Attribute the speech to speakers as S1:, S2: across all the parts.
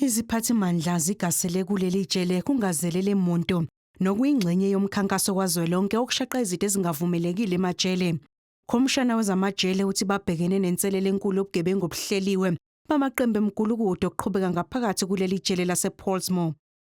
S1: Iziphathimandla zigasele kuleli jele kungazelele muntu nokuyingxenye yomkhankaso kazwelonke wokushaqa izitha ezingavumelekile emajele. Khomishana wezamajele uthi babhekene nenselele enkulu yobugebengu obuhleliwe bamaqembu emgulukudu okuqhubeka ngaphakathi kuleli jele lasePollsmoor.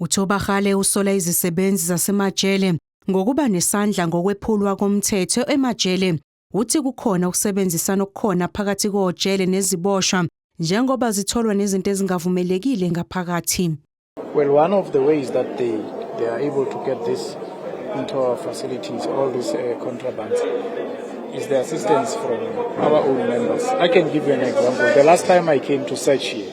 S2: UThobakgale usola
S1: izisebenzi zasemajele ngokuba nesandla ngokwephulwa komthetho emajele uthi kukhona ukusebenzisana okukhona phakathi kojele neziboshwa njengoba zitholwa nezinto ezingavumelekile ngaphakathi well one
S2: of the ways that they they are able to get this into our facilities all these uh, contrabands is the assistance from our own members i can give you an example the last time i came to search here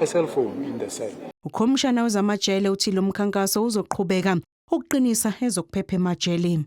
S2: a cell phone in the cell. Ukhomishana wezamajele
S1: uthi lo mkhankaso uzoqhubeka ukuqinisa ezokuphepha emajeleni.